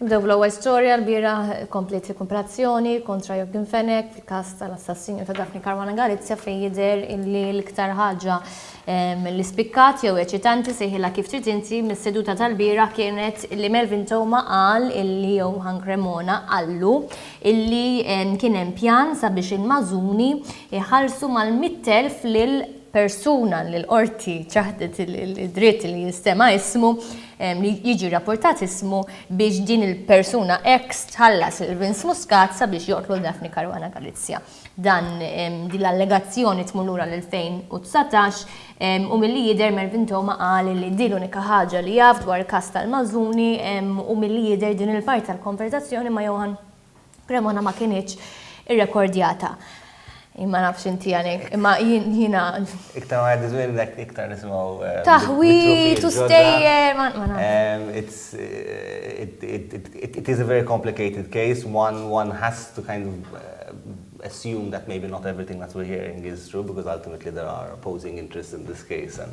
Nibdew bl-ewwel storja, lbieraħ kompliet l-ikkumparazzjoni kontra Joaquin Fenech fil-każ tal-assassinju ta' Daphne Caruana Galizia fejn jidher illi l-iktar ħaġa li spikkat jew eċitanti, sejħilha kif trid inti, mis-seduta tal-bieraħ kienet li Melvin Theuma qal illi Johan Cremona qallu illi kien hemm pjan sabiex il-Mażuni jħallsu mal-mitt elf lil persuna li l-qorti ċaħdet id-dritt li jinstema' ismu, li jiġi rrappurtat ismu biex din il-persuna ex tħallas lil Vince Muscat sabiex joqtlu lil Daphne Caruana Galizia. Dan din l-allegazzjoni tmur lura l-2019 u milli jidher Melvin Theuma qal li din l-unika ħaġa li jaf dwar il-każ tal-Mazzuni u milli jidher din il-parti tal-konverżazzjoni ma' Johann Cremona ma kinitx irrekordjata. Ma nafx inti għanek, ma jina. Iktar ma għaddi zwillek, iktar nismaw. Eh, Taħwi, tu stejjer, ma nafx. Eh, it is a very complicated case. One, one has to kind of eh, assume that maybe not everything that we're hearing is true because ultimately there are opposing interests in this case and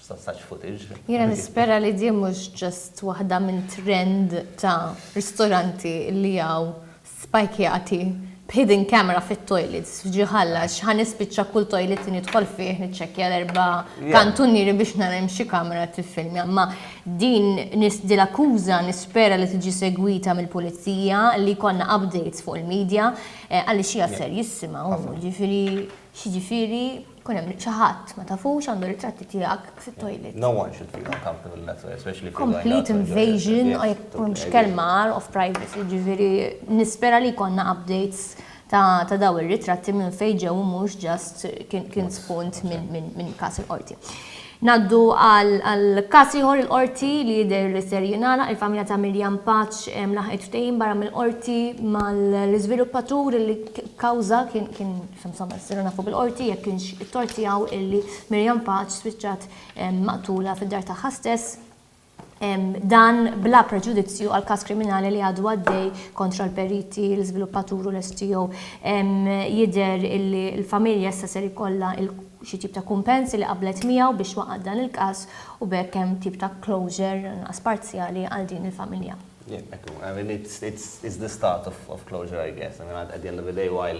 Sausage footage. Jiena nispera li din mhux just waħda minn trend ta' ristoranti li hawn spajkjati b'hidden camera fit-toilets f'Ġie Ħalla għax ħa nispiċċa kull toilet li nidħol fih niċċekkja l-erba' kantunieri biex nara hemm xi kamera li tiffilmja. Imma din l-akkuża nispera li tiġi segwita mill-pulizija li jkollna updates fuq il-media għaliex hija serjissima u jiġifieri X'jiġifieri jkun hemm xi ħadd ma tafux għandu ritratti tiegħek fit-toilet? No one should feel uncomfortable in that way, especially if you know another person who is doing it. Complete invasion, u jekk m'hemmx kelma għar, of privacy, jiġifieri nispera li jkollna updates ta' dawn ir-ritratti minn fejn ġew u mhux just kien spunt minn każ il-Qorti. Ngħaddu għal każ ieħor il-Qorti li jidher li ser jingħalaq, il-familja ta' Miriam Paċ laħqet ftehim barra mill-Qorti mal-iżviluppatur li kkawża kien kien insomma nsiru nafu bil-Qorti jekk kienx it-tort tiegħu illi Miriam Paċ spiċċat maqtula fid-dar tagħha stess. Dan bla preġudizzju għall-każ kriminali li għadu għaddej kontra l-periti, l-iżviluppatur u l-STO. Jidher illi l-familja issa ser ikollha xi tip ta' kumpens li qablet miegħu biex waqgħet dan il-każ u b'hekk hemm tip ta' closure, anqas parzjali, għal din il-familja. Yeah, ekku. I mean, it's, it's, it's the start of, of closure, I guess. I mean, at the end of the day, while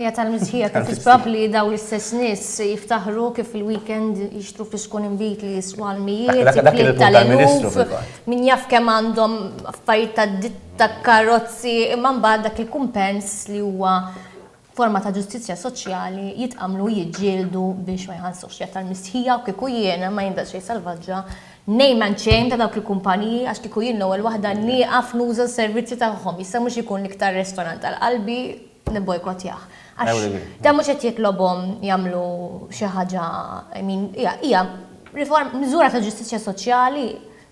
Hija tal-mistħija kif isbab li dawn l-istess nies jiftaħru kif fil-weekend jixtru friskun inbid li jiswa l-mijiet, il-klieb tal-eluf, min jaf kemm għandhom affarijiet tad-ditta, tal-karozzi, imma mbagħad dak il-kumpens li huwa forma ta' ġustizzja soċjali jitqammlu u jiġġieldu biex ma jħallsux. Hija tal-mistħija u kieku jien, ma jien daqsxejn salvaġġa, ngħin man xejn ta' dawk il-kumpaniji għax kieku jien l-ewwel waħda nieqaf nuża s-servizzi tagħhom. Jista' mhux ikun l-iktar restorant għal qalbi, nibbojkottjah. Għax dan mhux qed jitlobhom jagħmlu xi ħaġa, I mean, hija, hija riform, miżura ta' ġustizzja soċjali,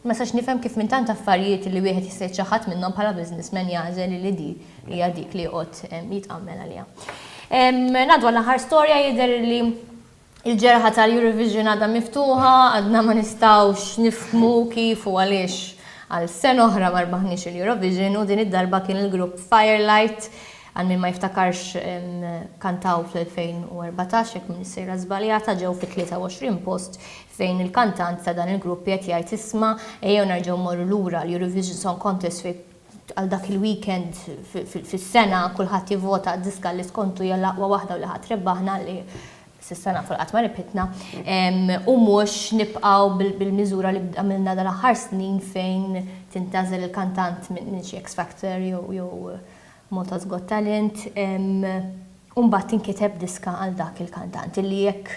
ma nistax nifhem kif minn tant affarijiet li wieħed jista' jiċċaħħad minnhom bħala businessman jagħżel li di hija dik li joqgħod jitqammel għaliha. Ngħaddu għall-aħħar storja, jidher li Il-ġerħa tal-Eurovision għadha miftuħa, għadna ma nistgħux nifhmu kif u għaliex għal sena oħra ma rbaħniex il-Eurovision u din id-darba kien il-grupp Firelight, għal min ma jiftakarx kantaw fl-2014 jekk m'iniex sejra żbaljata, ġew fit-23 post fejn il-kantant ta' dan il-grupp qiegħed jgħid isma' ejjew nerġgħu mmorru lura l-Eurovision Song Contest fejn għal dak il-weekend fis-sena kulħadd jivvota għad-diska li skontu hija l-aqwa waħda u li ħa trebbah aħna li s'issa nafu li qatt ma rebħitna u mhux nibqgħu bil-miżura li għamilna dal-aħħar snin fejn tintgħażel il-kantant minn xi X Factor jew Malta's Got Talent u mbagħad tinkiteb diska għal dak il-kantant illi jekk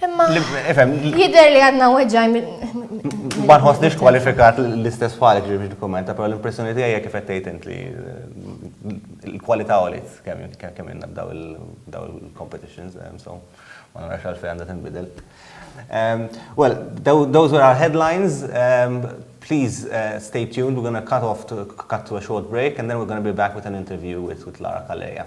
Imma, jider li għadna weġaj minn. Ma nħossniex kwalifikat l-istess falik ġi biex dokumenta, pero l-impressjoni tiegħi hija kif qed tgħid int li l-kwalità għoliet kemm inna b'daw il-competitions, so ma narax għalfejn għandha tinbidel. Well, those were our headlines. Please stay tuned. We're going to cut off to a short break, and then we're going to be back with an interview with Lara Calleja.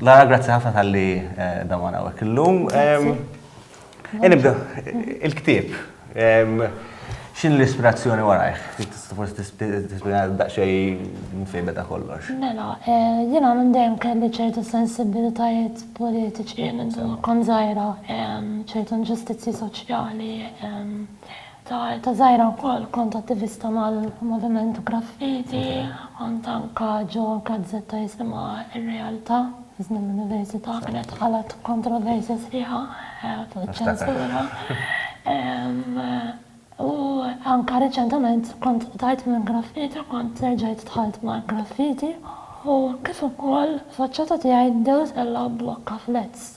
Lara, grazzi ħafna tal-li dawan għawek l-lum. Nibda, il-ktib. Xin l-ispirazzjoni warajħ? Tista forsi tispina daqxej mfejda ta' kollox. Mela, jina minn dejjem kelli ċertu sensibilitajiet politiċi minn kon zaħira, ċertu ġustizzi soċjali, Ta' eta żgħira wkoll kont attivista mal-moviment graffiti, kont anka ġo gazzetta jisimha r-Realtà, iżni mill-Università, kienet ħalqet kontroversja sħiħa fuq iċ-ċensura. U anka riċentament kont qtajt mill-graffiti u kont reġgħet dħalt mal-graffiti u kif ukoll faċċata tiegħi dew tellgħa blokka fl-ads.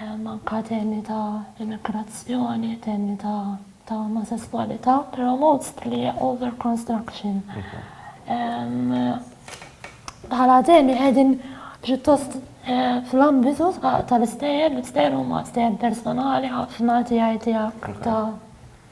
anke temi ta' immigrazzjoni, temi ta' omosesswalità, però mostly over construction. Bħala temi qegħdin pjuttost fl-ambitu tal-istejjer, l-istejjer huma stejjer personali ħafna tiegħi tiegħek ta'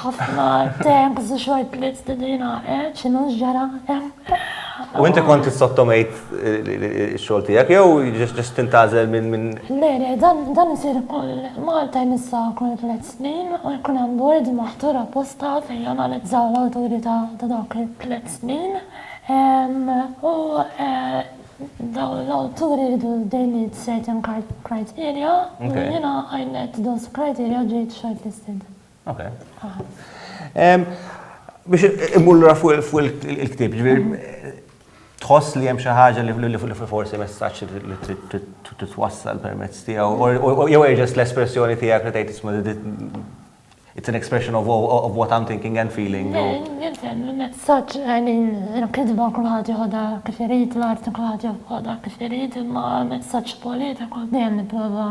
Ħafna temp zu xort blitz din jina, eh, xinu ġara, U inti kont sottomejt xol tijak, jew ġest tintazel minn minn. Le, le, dan jisir kol Malta jmissa kol tlet snin, u jkun hemm bord maħtur apposta fejn janalizzaw l-awturi ta' dawk it-tlet snin. U daw l-awturi jridu they meet certain criteria, u jina I met those criteria ġejt shortlisted. Ok. Biex immur l fuq il-ktib, tħoss li hemm xi ħaġa li forsi messaġġ li trid titwassal permezz tiegħu, jew erġes l-espressjoni tiegħek li tgħid isma' it's an expression of, of what I'm thinking and feeling. Jinten, il-messaġġ għani l-kidba kulħadd joħodha kif irid, l-arti kulħadd joħodha kif irid, imma l-messaġġ politiku dejjem nipprova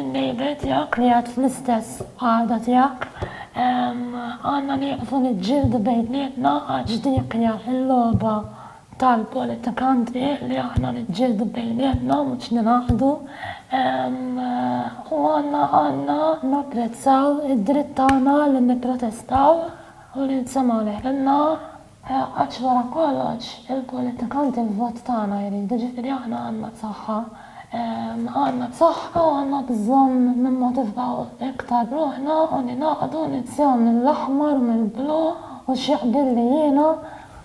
In-neighbour tiegħek li għad fl-istess qagħda tiegħek. Għandna nieqfu niġġieldu bejnietna għax dik hija l-logħba tal-politikanti li aħna niġġieldu bejnietna mhux ningħaqdu. U għandna għandna napprezzaw id-dritt tagħna li nipprotestaw u li nsemgħu leħinna. Għax wara kollox, il-politikanti l-vot tagħna jridu, ġifieri aħna għandna s-saħħa. Għandna s-saħħa u għandna bżonn nimmotivaw iktar ruħna u ningħaqdu ninsjaw mill-aħmar u mill-blu u x'jaqbilli jiena,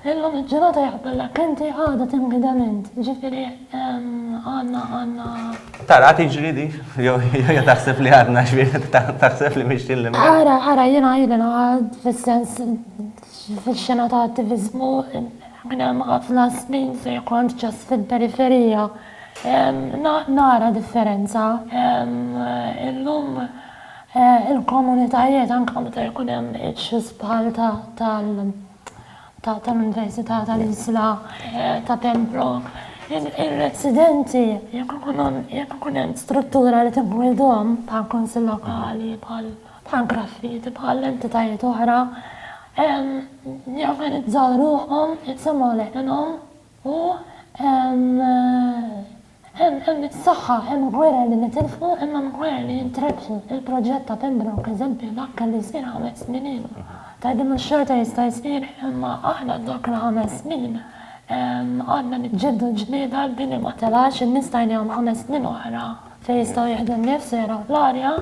illum il-ġurnata jaqbillek inti għada tinghidem int, ġifieri għandna, għandna. Taraha tiġri dik? Jew taħseb li għadna x'bienet, taħseb li mixjin 'l imgħadd? Ara, ara, jiena ili ngħid fis-sens Fix-xena ta' attiviżmu minn hemm ħafna snin ser kont ġast fil-periferija. Nara differenza. Illum il-komunitajiet anke meta jkun hemm issues bħal tal-Università tal-Isla ta' Pembroke, ir-residenti jekk ikun hemm struttura li tingħidhom bħall-Kunsill Lokali, bħal. bħal graffiti, bħal entitajiet oħra, jorganizzaw ruħhom, jitsemgħu leħinhom u hemm is-saħħa, hemm gwerer li nitilfu imma hemm gwerer li jintrebħu. Il-proġett ta' Pembroke eżempju dak kellu jsir ħames snin ilu. Tgħidli mhux xorta jista' jsir imma aħna dawk il-ħames snin għadna niġġieldu l-ġlieda li din li ma telgħax, in-nies tajnihom ħames snin oħra fejn jistgħu jieħdu n-nifs u jaraw l-arja.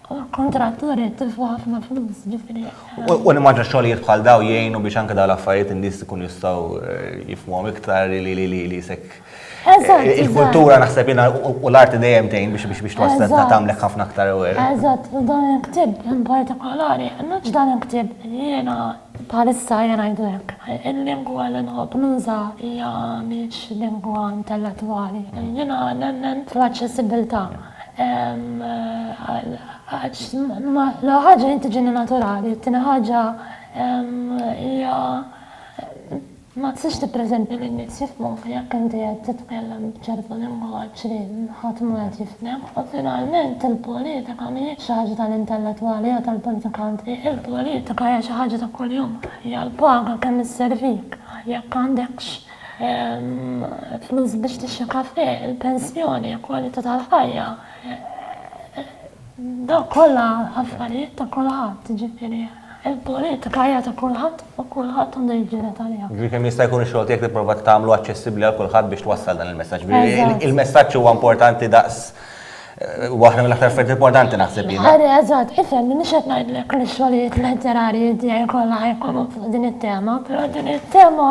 U l-kontrattur qed tilfu ħafna flus, ġifieri. U nimmaġina xogħlijiet bħal dawn jgħinu biex anke dawn l-affarijiet in-nies ikunu jistgħu jifhmuhom iktar li sekk. Eżatt. Il-kultura naħseb jiena u l-arti dejjem tgħin biex twassal tagħmlek ħafna aktar aware. Eżatt, u dan il-ktieb in partikolari, mhux dan il-ktieb, jiena bħalissa ejja ngħidu hekk, il-lingwa li nħobb nuża hija mhix lingwa intellettwali. Jiena nemmen fl-aċċessibbiltà. Għax l-ewwel ħaġa din tiġini naturali, it-tieni ħaġa hija ma tistax tippreżenta li n-nies jifhmuk jekk inti qed titkellem b'ċertu lingwaġġ li ħadd mhu qed jifhmek. U finalment il-politika mhijiex xi ħaġa tal-intellettwali jew tal-politikanti, il-politika hija xi ħaġa ta' kuljum, hija l-paga kemm isservik jekk għandekx. Flus biex tixri kafè, il-pensjoni, il-kwalità tal-ħajja. Dawk kollha affarijiet ta' kulħadd, jiġifieri l-politika hija ta' kulħadd u kulħadd għandu jiġġieled għaliha. Jiġifieri kemm jista' jkun ix-xogħol tiegħek tipprova tagħmlu aċċessibbli għal kulħadd biex twassal dan il-messaġġ. Eżatt. Il-messaġġ huwa importanti daqs, huwa waħda mill-aktar affarijiet importanti naħseb jien. Ħari, eżatt, ifhem, m'iniex qed ngħidlek li x-xogħlijiet letterarji tiegħi kollha ħajkunu fuq din it-tema, però din it-tema,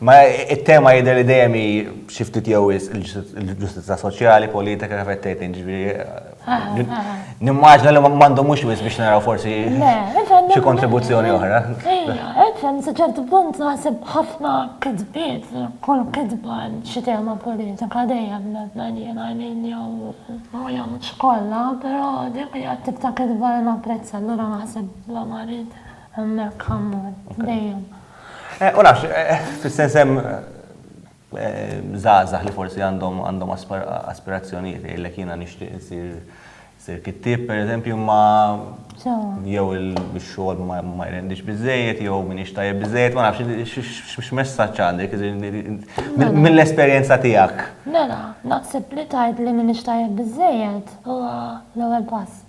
Ma it-tema jidher li dejjem hi xi ftit jew wisq il-ġustizzja soċjali, politika kif qed tgħid jiġifieri. Nimmaġna li m'għandu mhux wisq biex naraw forsi xi kontribuzzjoni oħra. Efen, sa ċertu punt naħseb ħafna kitbiet, kull kitba xi tema politika dejjem nemmna jiena għalin jew jew mhux kollha, però dik hija t-tip ta' kitba li napprezza allura naħseb bla marid hemmhekk ammont dejjem. Eh, u nafx, eh, eh, fil-sens hemm żgħażagħ li forsi għandhom għandhom aspirazzjonijiet jgħidlek jiena nixtieq insir sir kittib pereżempju ma jew il-xogħol ma jrendix biżejjed jew min ixtajjeb biżejjed ma nafx x'messaġġ għandek mill-esperjenza tiegħek. Mela, naħseb li tgħid li min ixtajjeb biżejjed huwa l-ewwel pass.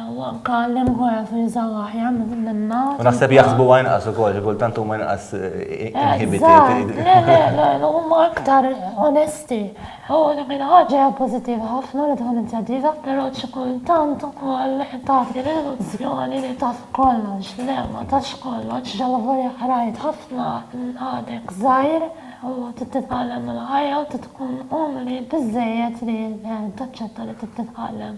Anke l-imħuħ jafu jużaw aħjar minna. U naħseb jaħsbuha inqas ukoll, xi kultant huma inqas inhibited. Le, le, le, huma aktar onesti. U dik il-ħaġa hija pożittiva ħafna li tkun inizjattiva, però xi kultant ukoll tagħti l-illużjoni li taf kollox. Le, ma tafx kollox, allavolja qrajt ħafna, għadek żgħir u trid titgħallem mill-ħajja u trid tkun umli biżżejjed li taċċetta li trid titgħallem.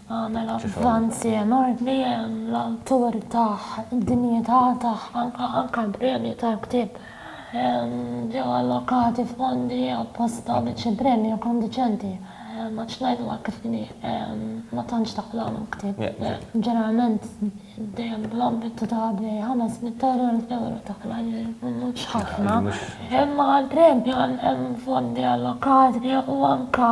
Għamel avvanzi enormi l-awtur tah, id-dinjità tah, anke l-premju tal-ktieb. Ġew allokati fondi apposta biex il-premju jkun diċenti. Għax ngħiduha kif inhi, ma tantx taqlagħlhom ktieb, ġeneralment. Dejjem bl-ambitu ta' qabel, 500,000 ewro ta' kull anniżel mhux ħafna. Imma għall-premju hemm fondi allokati u anke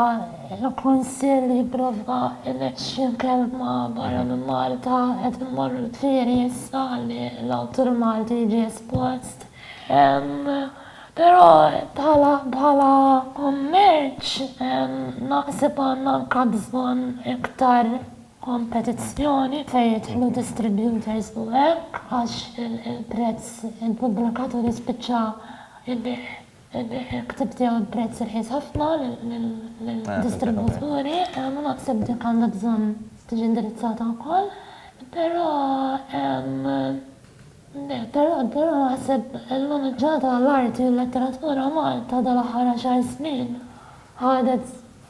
l-Kunsill jipprovda l-20 kelma barra minn Malta qed immorru l-tlieri issa ħalli l-awtur Malti jiġi espost. Però bħala kummerċ naħseb għandna anke bżonn iktar kompetizzjoni fejn jidħlu distributors u hekk għax il-prezz il-pubblikat u jispiċċa jbigħ jbigħ il-ktieb tiegħu bi prezz irħis ħafna lill-distributuri. Jiena naħseb dik għandha bżonn tiġi indirizzata wkoll. Però però però naħseb il-maniġġar tal-arti u l-letteratura Malta dal-aħħar għaxar snin ħadet